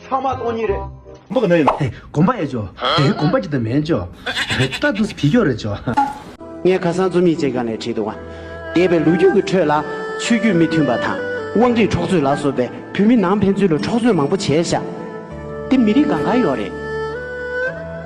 ཚང་མ་སྟོང་ཉིད་རེད། མགོ་གནོན་ཡོད། དེ་གོམ་པ་ཡེ་འཇོག། དེ་གོམ་པ་ཅི་ད་མེད་འཇོག། རྟ་བདུད་བི་ཀྱོག་རེ་འཇོག། ངས་ཁ་སང་རྩོམ་ཡིག་ཅིག་ག་ནས་བྲིས་འདུག་འདས་པའི་ལོ་རྒྱུས་ཀྱི་ཁྲོད་ལ་ཆོས་བརྒྱུད་མི་མཐུན་པ་དང་དབང་ཁྲིད་འཕྲོག་རྩོད་ལ་སོགས་པའི་བོད་མི་ནང་ཕན་ཚུན་ལ་འཕྲོག་རྩོད་མང་པོ་བྱས་བཞག་དེ་མི་རིགས་གང་གང་ཡོད་རེད།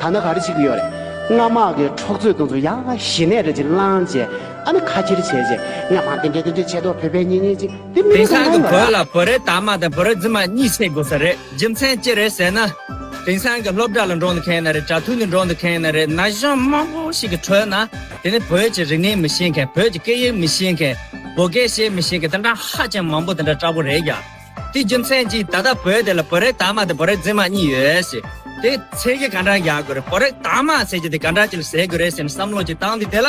ད་ནི་ག་རེ་བྱེད་ཀྱི་ཡོད་རེད། སྔར་དམག་གི་འཕྲོག་རྩོད་གཏོང་ཚུལ་ཡག་ཞི་གནས་རེད་ཅེས་བསླངས་རྗེས་ཨ་ནི་ཁ་ཁྱེར་བྱས་རྗེས་ངས་མང་བསྟན་འགྲན་བསྟན་འགྲན་བྱས་ཐོག་བོད་པའི་གཉེན་ཉེ་ཅིག་དེང་སང་གི་བོད་ལ་བོད་རིགས་དར་མ་དང་བོད་རིགས་རྫུན་མ་གཉིས་བྱེད་དགོས་ས་རེད་རྒྱུ་མཚན་ཅི་རེད་ཟེར་ན། དེང་སང་གི་སློབ་གྲྭ་ལ་འགྲོ་འདི་མཁན་ན་རེད་གྲྭ་ཐུག་ནས་འགྲོ་འདི་མཁན་ན་རེད་ན་གཞོན་མང་པོ་ཞིག་གི་ཁྲོད་ན། དེ་ནི་བོད་ཀྱི་རིག་གནས་མི་ཤེས་མཁན་བོད་ཀྱི་སྐད་ཡིག་མི་ཤེས་མཁན། བོད་སྐད་བཤད་མི་ཤེས་མཁན་དེ་འདྲ་ཧ་ཅང་མང་པོ་དེ་འདྲ་འདྲ་པོ་རེད་ཀྱང། དེའི་རྒྱུ་མཚན་གྱིས་ད་ལྟ་བོད་དེ་ལ་བོད་རིགས་དར་མ་དང་བོད་རིགས་རྫུན་མ་གཉིས་ཡོད་ཟེར། དེ་ཚེ་གི་ག་འདྲ་རྒྱག་དགོས་རེད་བོད་རིགས་དར་མ་ཟེར་རྒྱུ་དེ་ག་འདྲ་ཅིག་ལ་ཟེར་དགོས་རེད་སེམས་བསམ་བློ་ཅིག་བཏང་དུས་དེ་ལ།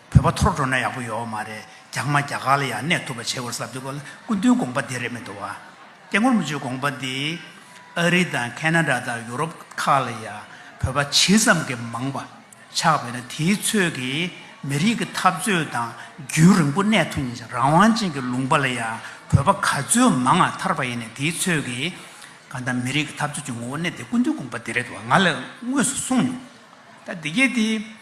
བོད་པ་ཐོར་འགྲོ་ན་ཡག་པོ་ཡོའོ་མ་རེད་རྒྱ་དམར་རྒྱ་གར་ལ་ཡང་གནས་ཐུབ་པ་བྱེད་དགོས་ཟབ་དེ་ཁོ་ལ་སྐུ་མདུན་དགོངས་པ་འདི་རེད་མི་འདུག་བ། སྐྱེ་ངོར་མི་ཆོས་དགོངས་པ་འདི། ཨ་རི་དང་ཁེ་ན་དྲ་དང་ཡུ་རོབ་ཁག་ལ་ཡང་བོད་པ་ཇི་ཙམ་གྱི་མང་བ་ཆགས་པས་ན་དེའི་ཚོད་ཀྱིས་མི་རིགས་ཀྱི་འཐབ་རྩོད་དང་རྒྱུན་རིང་པོ་གནས་ཐུབ་ངེས་ཤིང་རང་དབང་ཅན་གྱི་ལུང་པ་ལ་ཡང་བོད་པ་ག་ཚོད་མང་ང་ཐར་པ་ཡིན་ནས་དེའི་ཚོད་ཀྱིས་གང་ལྟར་མི་རིགས་ཀྱི་འཐབ་རྩོད་ཀྱི་ངོ་བོ་གནད་དེ་སྐུ་མདུན་དགོངས་པ་འདི་རེད་དུ་བ་ང་ལ་དངོས་སུ་གསུངས་མྱོང། ད་འདི་སྐད་དེ།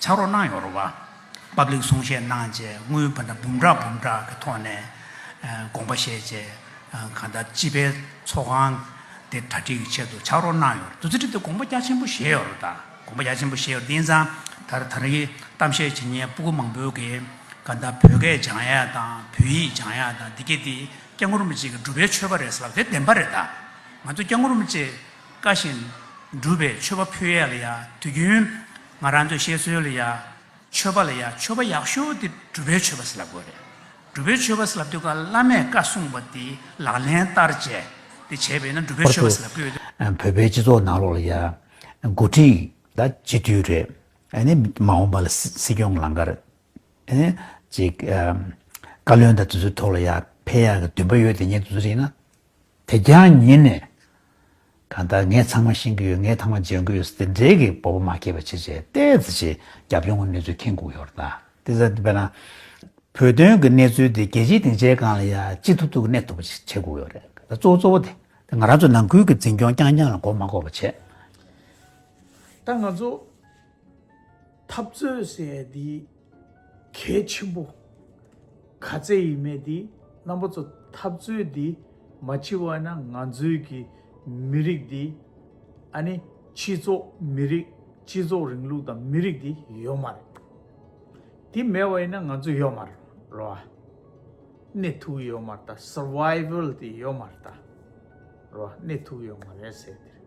ཕྱག་རོགས་གནང་ཡོང་རོགས། བབ་ལེགས་གསུང་བཤད་གནང་རྗེས་དངུལ་བུ་འདྲ་འབུམ་ཕྲག་འབུམ་ཕྲག་གི་ཐོག་ནས་དགོངས་པ་བཞེས་རྗེས་གང་ལྟར་སྤྱི་པའི་ཚོགས་ཁང་དེ་གྲ་སྒྲིག་གི་ཆེད་དུ་ཕྱག་རོགས་གནང་ཡོང་རོགས། བདུད་རྩི་བྲིས་ཏེ་དགོངས་པ་རྒྱ་ཆེན་པོ་བཞེས་ཡོང་རོགས། དགོངས་པ་རྒྱ་ཆེན་པོ་བཞེས་ཡོང་དེང་སང་ད་རེས་ད་རེའི་གཏམ་བཤད་བྱེད་ཉན་སྤུ་གུ་མང་པོའི་གིས་གང་ལྟར་བོད་སྐད་སྦྱང་ཡ་དང་བོད་ཡིག་སྦྱང་ཡ་དང་འདི་སྐད་དེ་སྐྱག་ངུར་སྨྲིག་ཅིག་གིས་སྒྲུབ་པའི་ཆོས་པ་རེད་ཟེར་བ་དེ་བདེན་པ་རེད་ད། ང་ཚོ་སྐྱག་ངུར་སྨྲིག་ཅིག་དཀའ་བཞིན་སྒྲུབ་པའི་ཆོས་པ་ཕུད་ཡ་ལ་ཡ་དུས་རྒྱུན་ང་རང་ཚོའི་བཤད་སྲོལ་ལ་ཡང། མཆོད་པ་ལ་ཡང་མཆོད་པ་ཡག་ཤོས་དེ་སྒྲུབ་པའི་མཆོད་པ་ཟེར་ལབ་དགོས་རེད། སྒྲུབ་པའི་མཆོད་པ་ཟེར་ལབ་དུས་ཀ་བླ་མས་བཀའ་གསུངས་པ་དེ་ལག་ལེན་བསྟར་བྱས་དེ་བྱས་པས་ན་སྒྲུབ་པའི་ཁོར་མཆོད་དུ་པ་ཟེར་ལབ་དགོས་རེད། བོད་པའི་སྤྱི་ཚོགས་ནང་ལོགས་ལ་ཡང། མགོ་ཁྲིད་ལ་སྤྱི་མཐུས་རེད། ཨནི་མ་འོངས་པ་ལ་སྲིད་སྐྱོང་ལང་ཀ་རེད། ཨནི་ཅིག། བཀའ་བློན་དང་དེ་ཚོའི་ཐོག་ལ་ཡང་ཕལ་ཡག་གི་འདུན་པ་ཡོད་དེ་ཉན་དུ་རིགས་ན། དེ་རྒྱང་ཉིད་ནས། གང་ལྟར་ངས་ཚང་མ་ཤེས་ཀྱི་ཡོད་ངས་ཐང་མ་འཇལ་དགོས་ཡོད་དེ་འབྲེལ་གྱི་སྤོབས་པ་མ་སྐྱེས་པ་ཆེ་ཆེ་ཏེ་ཙི་ཆེ་རྒྱབ་ཡོང་གི་གནས་ཚུལ་མཁྱེན་སྒུག་ཡོད་ར་ད་དེ་ཙི་དཔེར་ན། བོད་དོན་གྱི་གནས་ཚུལ་དེ་རྒྱལ་སྤྱིའི་སྡིངས་ཆའི་སྒང་ལ་ཡང་ཅི་ཐུབ་ཐུབ་གནས་ཐུབ་པ་ཞིག་བྱེད་སྒུག་ཡོད་རེད་ད་གཙོ་བོ་གཙོ་བོ་དེ་ང་རང་ཚོ་ནང་ཁུལ་གྱི་འཛིན་སྐྱོང་རྐྱང་རྐྱང་ལ་མགོ་མ་འཁོར་བ་བྱེད། ད་ང་ཚོ། འཐབ་རྩོད་ཟེར་ཡས་འདི་གལ་ཆེན་པོ། ག་ཚད་ཡིན་མེད་འདི་རྣམ་པ་ཚོ་འཐབ་རྩོད་འདི་མ་བྱི་བ་ན་ང་ཚོའི་གི་མི་རིགས་འདི་ཨ་ནི་སྤྱི་ཚོགས་མི་རིགས་སྤྱི་ཚོགས་རིང་ལུགས་དང་མི་རིགས་འདི་ཡོད་མ་རེད། འདི་མེད་བ་ཡིན་ན་ང་ཚོ་ཡོད་མ་རོ་ཨ། གནས་ཐུག་ཡོད་མ་རེད་ད survival འདི་ཡོད་མ་རེད་ད་རོ་ཨ་གནས་ཐུག་ཡོད་མ་རེད་ཟེར་འདི་རེད།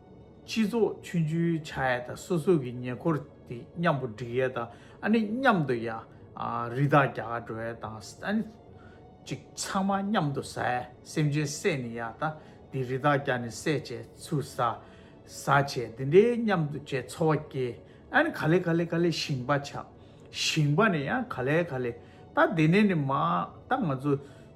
སྤྱི་ཚོགས་མཐུན་སྦྱོར་བྱ་ཡ་དང་སོ་སོ་གི་ཉེ་འཁོར་དེ་མཉམ་པོ་སྒྲིག་ཡ་དང་ཨ་ནི་མཉམ་དུ་ཡ་རི་དྭགས་རྒྱ་གར་འགྲོ་ཡ་དང་ཨ་ནི་ཅིག་ཚང་མ་མཉམ་དུ་ཟ་ཡ་སེམས་ཅན་བསད་ནི་ཡ་ད་དེ་རི་དྭགས་རྒྱ་ནི་བསད་བྱས་ཚུལ་ཟ་ཟ་བྱས་དེ་འདྲའི་མཉམ་དུ་བྱས་འཚོ་བ་སྐྱེལ་ཨ་ནི་ག་ལེ་ག་ལེ་ག་ལེ་ཞིང་པ་བྱ་ཞིང་པ་ནི་ཡ་ག་ལེ་ག་ལེ་ད་དེ་ནས་ནི་མ་ད་ང་ཚོ།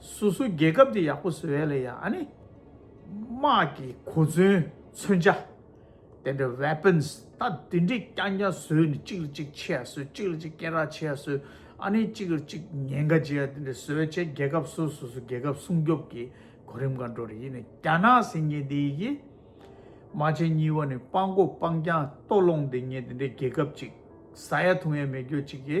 སུ་སུ་རྒྱལ་ཁབ་དེ་ཡག་པོ་བཟོ་ཡ་ལ་ཡ་ཨ་ནི། དམག་གི་གོ་མཚོན་མཚོན་ཆ། དེ་འདྲ weapons ད་དེ་འདྲས་རྐྱང་རྐྱང་བཟོས་ནས་གཅིག་ལ་གཅིག་ཆེ་ཡ་བཟོས་གཅིག་ལ་གཅིག་སྐད་རགས་ཆེ་ཡ་བཟོས་ཨ་ནི་གཅིག་ལ་གཅིག་ཉེན་ཁ་འབྱེད་ཡ་དེ་འདྲས་བཟོས་བྱས་རྒྱལ་ཁབ་སུ་སུ་སུ་རྒྱལ་ཁབ་སྲུང་སྐྱོབ་ཀྱི་གོ་རིམ་གང་འགྲོ་རེ་ཡིན་ནས་རྒྱ་ནག་ཟེར་ངེས་དེ་ཡི་གི། རྨ་ཆེན་གཉིས་བ་ནི་སྤང་གོ་སྤང་རྐྱང་ལྟོ་སློང་དེ་ངེས་དེ་འདྲས་རྒྱལ་ཁབ་ཅིག་ཟ་ཡ་འཐུང་ཡ་མེད་རྒྱོ་གཅིག་གི་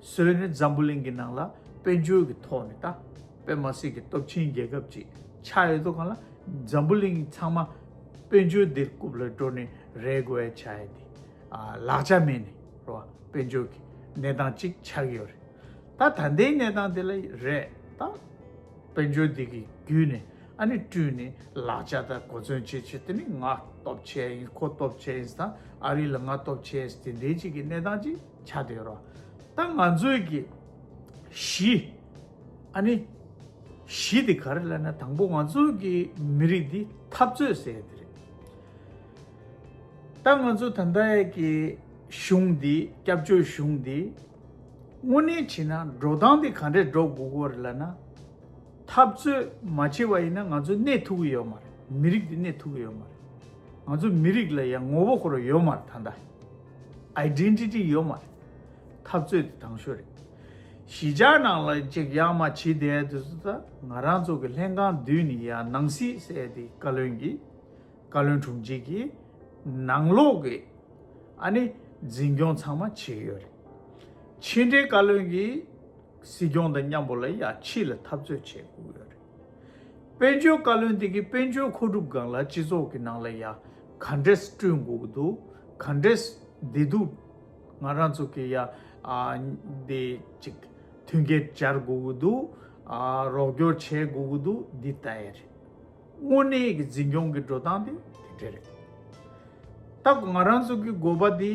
སྲོལ་ནི་འཛམ་བུ་གླིང་གི་ནང་ལ་དཔལ་འབྱོར་གྱི་ཐོག་ནས་དང་པད་མ་སྲིད་ཀྱི་སྟོབས་ཆེན་རྒྱལ་ཁབ་ཅིག་ཆགས་ཡོད་དོ་གང་ལ་འཛམ་བུ་གླིང་ཚང་མ་དཔལ་འབྱོར་འདིར་རྐུབ་ལ་འགྲོ་ནས་རེད་གོ་བའི་བྱ་ཡ་འདི་ལག་ཆ་མེད་ནས་རོ་བ་དཔལ་འབྱོར་གྱི་གནས་སྟངས་ཅིག་ཆགས་ཀྱི་ཡོད་རེད་ད་ད་ལྟའི་གནས་སྟངས་དེ་ལ་རེད་ད་དཔལ་འབྱོར་འདི་གི་བརྒྱུད་ནས་ཨ་ནི་བསྐྲུན་ནས་ལག་ཆ་དང་གོ་མཚོན་བྱེད་བྱེད་དེ་ནི་ང་སྟོབས་ཆེ་ཡིན་ཁོ་སྟོབས་ཆེ་ཡིན་དང་ཨ་རི་ལ་ང་སྟོབས་ཆེ་ཡིན་དེ་འདྲའི་ཅིག་གི་གནས་སྟངས་ཅིག། བྱ་འདོད་ཡོད་རོགས། ད་ང་ཚོའི་གི། གཞི། ཨ་ནི། གཞི་དེ་ག་རེ་ལ་ན་དང་པོ་ང་ཚོའི་གི་མི་རིགས་འདི་འཐབ་རྩོད་ཟེར་ཡ་དེ་རེད། ད་ང་ཚོ་ད་ལྟ་ཡས་གི་གཞུང་འདི་སྐྱབས་བཅོལ་གཞུང་འདི། དངོས་གནས་བྱེད་ན་འགྲོ་སྟངས་དེ་ག་འདྲས་འགྲོ་དགོས་གོ་རེ་ལ་ན། འཐབ་རྩོད་མ་བྱེད་པ་ཡིན་ན་ང་ཚོའི་གནས་ཐུག་གི་ཡོད་མ་རེད་མི་རིགས་འདི་གནས་ཐུག་གི་ཡོད་མ་རེད། ང་ཚོ་མི་རིགས་ལ་ཡ་ངོ་བོ་ཁོ་ར་ཡོད་མ་རེད་ད་ལྟ། Identity ཡོད་མ་རེད། འཐབ་རྩོད་དེ་དྲང་ཤོས་རེད། གཞིས་ཆགས་ནང་ལ་གཅིག་ཡག་མ་བྱེད་བསྡད་དུས་སུ་ད་ང་རང་ཚོ་གི་ལྷན་ཁང་བསྡུས་ནས་ཡ་ནང་སྲིད་བསད་དེ་བཀའ་བློན་གྱིས། བཀའ་བློན་དྲུང་ཆེ་གྱིས། ནང་ལོག་གི། ཨ་ནི། འཛིན་སྐྱོང་ཚང་མ་བྱེད་ཡོད་རེད། ཕྱི་འབྲེལ་བཀའ་བློན་གྱིས། སྲིད་སྐྱོང་དང་མཉམ་པོ་ལ་ཡ་ཕྱི་ལ་འཐབ་རྩོད་བྱེད་བསྒུགས་ཡོད་རེད། དཔལ་འབྱོར་བཀའ་བློན་དེ་གའི་དཔལ་འབྱོར་མཁོ་སྒྲུབ་སྒང་ལ་སྤྱི་ཚོགས་ཀྱི་ནང་ལ་ཡ་ག་འདྲས་བསྐྲུན་དགོས་ཀྱི་འདུག་ག་འདྲས་བདེ་སྡུག་ང་རང་ཚོ་གི་ཡ་འདི་ཅིག་མཐུན་རྐྱེན་སྦྱར་དགོས་ཀྱི་འདུག་རོགས་སྐྱོར་བྱེད་དགོས་ཀྱི་འདུག་འདི་ལྟ་ཡི་རེད། དངོས་གནས་ཀྱི་འཛིན་སྐྱོང་གི་འགྲོ་སྟངས་དེ་དེ་འདྲས་རེད། ད་ང་རང་ཚོ་གི་དགོས་པ་འདི་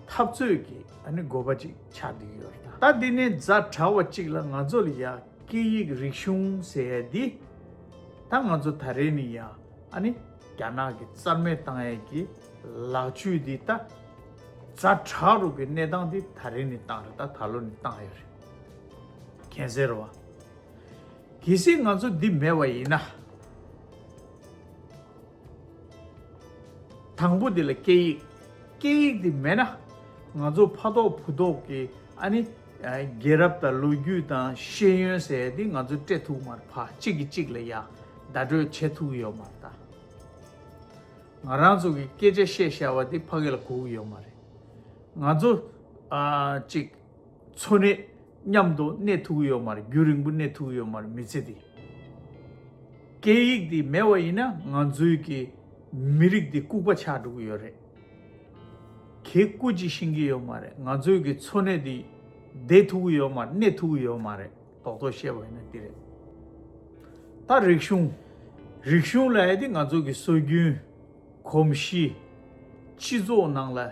འཐབ་རྩོད་ཀྱི་དགོས་པ་ཅིག་ཆགས་བསྡད་ཡོད་རེད། ད་འདི་ནས་རྫ་དྲ་བ་ཅིག་ལ་ང་ཚོ་ལ་ཡ། སྐད་ཡིག་རིག་གཞུང་ཟེར་ཡས་འདི། ད་ང་ཚོ་ད་རེས་ནི་ཡ་ཨ་ནི་རྒྱ་ནག་གི་རྩར་མེ་བཏང་ཡས་ཀྱི་ལག་བཅུད་འདི་ད། རྫ་བྲག་རུ་གི་གནས་སྟངས་འདི་ད་རེས་ནི་བཏང་རེད་ད་ད་ལོ་ནི་བཏང་ཡས་རེད། གན་ཟེར་བ། གལ་སྲིད་ང་ཚོ་འདི་མེད་བ་ཡིན་ན། དང་པོ་འདི་ལ་སྐད་ཡིག། སྐད་ཡིག་འདི་མེད་ན། ང་ཚོ་ཕ་ཐོག་བུ་ཐོག་གི་ཨ་ནི། རྒྱལ་རབས་དང་ལོ་རྒྱུས་དང་ཤེས་ཡོན་ཟེར་ཡ་འདི་ང་ཚོ་སྤྲད་ཐུག་མར་ཕ་གཅིག་གིས་གཅིག་ལ་ཡ་བདའ་སྤྲོད་བྱེད་ཐུག་ཡོད་མ་རེད། ང་རང་ཚོ་གི་སྐད་ཆ་བཤད་ཤ་བ་འདི་ཕ་གི་ལ་གུག་ཡོད་མ་རེད། ང་ཚོ་ཨ་ཅིག། འཚོ་གནས་མཉམ་དུ་གནས་ཐུག་ཡོད་མར་རྒྱུན་རིང་པོ་གནས་ཐུག་ཡོད་མར་མི་ཚེ་འདི། སྐད་ཡིག་འདི་མེད་བ་ཡིན་ན་ང་ཚོའི་གི་མི་རིགས་འདི་ལྐུག་པ་ཆགས་འགྲོ་གི་ཡོད་རེད། གེ་སྐུ་ཅིག་ཤེས་ཀྱི་ཡོད་མ་རེད་ང་ཚོའི་གི་འཚོ་གནས་འདི་བསྡད་ཐུག་ཡོད་མར་གནས་ཐུག་ཡོད་མ་རེད་རྡོག་རྡོག་བཤད་པ་ཡིན་ན་འདི་རེད། ད་རིག་གཞུང། རིག་གཞུང་ལ་ཡ་དེ་ང་ཚོ་གི་སྲོལ་རྒྱུན། གོམས་གཤིས། སྤྱི་ཚོགས་ནང་ལ།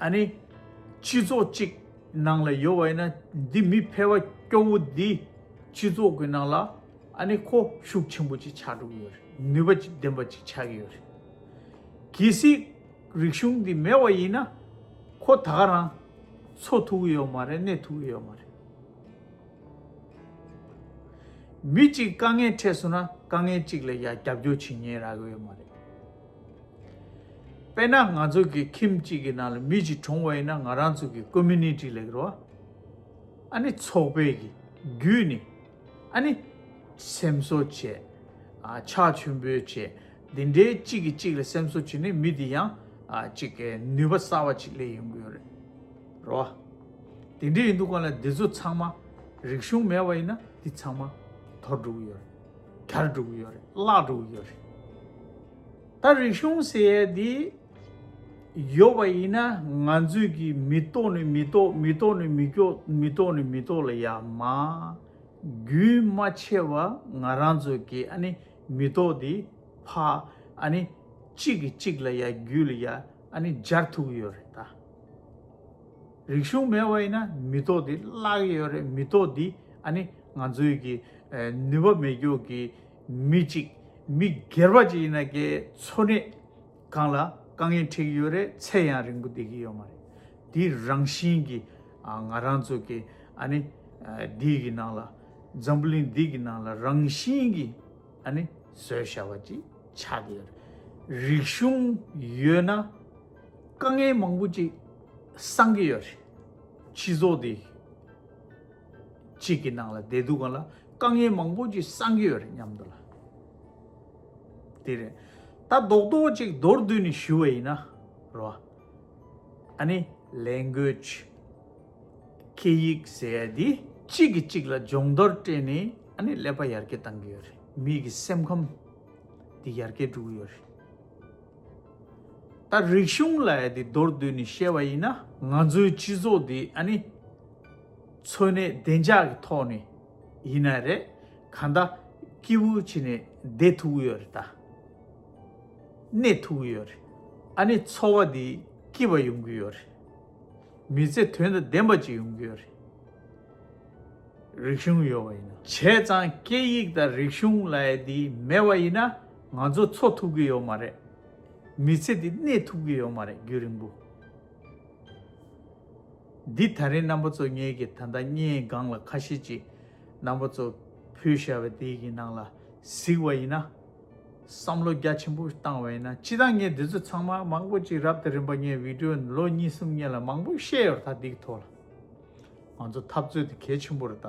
ཨ་ནི། སྤྱི་ཚོགས་གཅིག་ནང་ལ་ཡོད་བ་ཡིན་ན་འདི་མི་ཕལ་བ་སྐྱོ་བོ་འདི་སྤྱི་ཚོགས་ཀྱི་ནང་ལ་ཨ་ནི་ཁོ་ཤུགས་ཆེན་པོ་ཅིག་ཆགས་འགྲོ་གི་ཡོད་རེད་ནུས་པ་ཅིག་ལྡན་པ་ཅིག་ཆགས་ཀྱི་ཡོད་རེད། གལ་སྲིད་རིག་གཞུང་འདི་མེད་བ་ཡིན་ན་ཁོ་ད་ག་རང་འཚོ་ཐུབ་ཀྱི་ཡོད་མ་རེད་གནས་ཐུབ་ཀྱི་ཡོད་མ་རེད། མི་གཅིག་དཀའ་ངལ་འཕྲད་སོང་ན་དཀའ་ངལ་གཅིག་ལ་ཡང་རྒྱབ་སྐྱོར་བྱེད་ཉེན་རག་གི་ཡོད་མ་རེད། དཔེར་ན་ང་ཚོ་གི་ཁྱིམ་གཅིག་གི་ནང་ལ་མི་གཅིག་གྲོངས་བ་ཡིན་ན་ང་རང་ཚོ་གི Community ལ་རོ། ཨ་ནི་ཚོགས་པའི་གི་རྒྱུད་ནི། ཨ་ནི་སེམས་གསོ་བྱེད། ཕྱག་མཆོད་འབུལ་བྱེད། འདི་འདྲའི་གཅིག་གིས་གཅིག་ལ་སེམས་གསོ་བྱེད་ནི་མི་དེ་ཡང་གཅིག་གི་ནུས་པ་གསར་བ་གཅིག་ལས་ཡོང་གི་ཡོད་རེད། རོ། དེ་འདྲས་ཡིན་འདུག་ག་ལ་འདི་ཚོ་ཚང་མ་རིག་གཞུང་མེད་བ་ཡིན་ན་འདི་ཚང་མ་དོར་འགྲོ་གི་ཡོད་རེད། གར་བསྒྲུགས་ཡོད་རེད་གླག་བསྒྲུགས་ཡོད་རེད། ད་རིག་གཞུང་ཟེར་ཡས་འདི་ཡོད་པ་ཡིན་ན་ང་ཚོས་ཀྱི་མི་ལྟོགས་ནི་མི་ལྟོགས་མི་ལྟོགས་ནི་མི་སྐྱོགས་མི་ལྟོགས་ནི་མི་ལྟོགས་ལ་ཡ་མ། རྒྱུན་མ་ཆད་པ་ང་རང་ཚོས་ཀྱི་ཨ་ནི་མི་ལྟོགས་འདི་ཕ་ཨ་ནི་གཅིག་གིས་གཅིག་ལ་ཡ་རྒྱུད་ལ་ཡ་ཨ་ནི་སྦྱར་ཐུག་ཡོད་རེད་ད། རིག་གཞུང་མེད་བ་ཡིན་ན་མི་ཐོག་འདི་བརླག་ཡས་ཡོད་རེད་མི་ཐོག་འདི་ཨ་ནི་ང་ཚོའི་གི་ནུས་པ་མེད་རྒྱུག་གི་མི་གཅིག་མི་སྒེར་པ་གཅིག་ཡིན་ན་གའི་འཚོ་གནས་གང་ལ་དཀའ་ངལ་འཕྲད་གི་ཡོད་རེད་ཚད་ཡང་རིང་པོ་བསྡད་གི་ཡོད་མ་རེད་འདི་རང་བཞིན་གི་ང་རང་ཚོ་གི་ཨ་ནི་འདི་གི་ནང་ལ་འཛམ་བུ་གླིང་འདི་གི་ནང་ལ་རང་བཞིན་གི་ཨ་ནི་བཟོད་བྱ་བ་གཅིག་ཆགས་གི་ཡོད་རེད་རིག་གཞུང་ཡོད་ན། དཀའ་ངལ་མང་པོ་ཅིག་སངས་ཀྱི་ཡོད་རེད། སྤྱི་ཚོགས་འདི་གཅིག་གི་ནང་ལ་བསྡད་འདུག་ག་ལ་དཀའ་ངལ་མང་པོ་ཅིག་སངས་ཀྱི་ཡོད་རེད་སྙམ་འདུག་ལ། དེ་རེད། ད་རྡོག་རྡོག་ཅིག་མདོར་བསྡུས་ནས་ཞུ་བ་ཡིན་ན། རོ། ཨ་ནི Language། སྐད་ཡིག་ཟེར་ཡ་འདི་གཅིག་གིས་གཅིག་ལ་སྦྱོང་བརྡར་སྤྲད་ནས་ཨ་ནི་ཀླད་པ་ཡར་རྒྱས་བཏང་གི་ཡོད་རེད། མིག་གི་སེམས་ཁམས་འདི་ཡར་རྒྱས་འགྲོ་གི་ཡོད་རེད། ད་རིག་གཞུང་ལ་ཡ་དེ་མདོར་བསྡུས་ནས་བཤད་པ་ཡིན་ན་ང་ཚོའི་སྤྱི་ཚོགས་འདི་ཨ་ནི། འཚོ་གནས་བདེ་འཇགས་ཀྱི་ཐོག་ནས་ཡིན་ན་རེད་ག་ད་སྐྱིད་པོ་བྱས་ནས་བསྡད་ཐུབ་ཀྱི་ཡོད་རེད་ད། གནས་ཐུབ་ཀྱི་ཡོད་རེད་ཨ་ནི་འཚོ་བ་འདི་སྐྱིད་པ་ཡོང་གི་ཡོད་རེད། མི་ཚེ་དོན་དང་ལྡན་པ་ཅིག་ཡོང་གི་ཡོད་རེད། རིག་གཞུང་ཡོད་པ་ཡིན་ན། བྱས་ཙང་སྐད་ཡིག་དང་རིག་གཞུང་ལ་ཡ་དེ་མེད་པ་ཡིན་ན། ང་ཚོ་འཚོ་ཐུབ་ཀྱི་ཡོད་མ་རེད། མི་ཚེ་འདི་གནས་ཐུབ་ཀྱི་ཡོད་མ་རེད་རྒྱུན་རིང་པོ། འདི་ད་རིང་རྣམ་པ་ཚོ་ངེད་ཀྱི་ད་ལྟ་སྙན་སྒང་ལ་ཁ་ཤས་ཀྱི་རྣམ་པ་ཚོ་བུད་ཤ་བའི་དེ་ཡི་ནང་ལ་གཟིགས་བ་ཡིན་ན། བསམ་བློ་རྒྱ་ཆེན་པོ་བཏང་བ་ཡིན་ན་ཅི་ད་ངས་འདི་ཚོ་ཚང་མ་མང་པོ་ཅིག་རབ་དང་རིམ་པ་ངས་བིད་དྲོ་ལོ་གཉིས་གསུམ་གཉིས་ལ་མང་པོ་བཤད་ཡོད་ད་འདིག་ཐོག་ལ། ང་ཚོ་འཐབ་རྩོད་འདི་གལ་ཆེན་པོ་རེད་ད།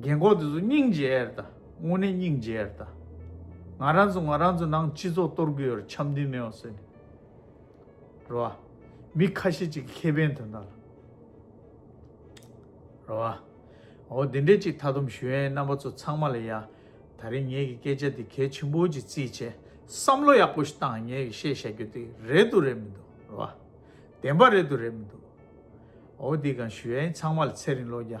རྒན་འཁོགས་དེ་ཚོ་སྙིང་རྗེ་ཨེར་ད། དངོས་གནས་སྙིང་རྗེ་ཨེར་ད། ང་རང་ཚོ་ང་རང་ཚོ་ནང་སྤྱི་ཚོགས་གཏོར་དགོས་ཨེར་འཆམ་མཐུན་མེད་བ་བཟོས་ནས། རེད་བ། མི་ཁ་ཤས་ཅིག་གི་ཁེ་ཕན་དོན་དག་ལ། རེད་བ། འོ་དེ་འདྲས་ཅིག་མཐའ་སྡོམ་ཞུ་ཨེ་རྣམ་པ་ཚོ་ཚང་མ་ལ་ཡ། ད་རིང་ངེད་ཀྱི་སྐད་ཆ་འདི་གལ་ཆེན་པོ་ཅིག་རྩིས་བྱས་བསམ་བློ་ཡག་པོ་ཞིག་བཏང་ངེད་ཀྱི་བཤད་བཞག་རྒྱུ་དེ་རེད་འདུག་རེད་མི་འདུག་རེད་བ། བདེན་པ་རེད་འདུག་རེད་མི་འདུག། ཨོ་དེ་གང་ཞུ་ཨེ་ཚང་མ་ལ་ཚེ་རིང་བློ་རྒྱ།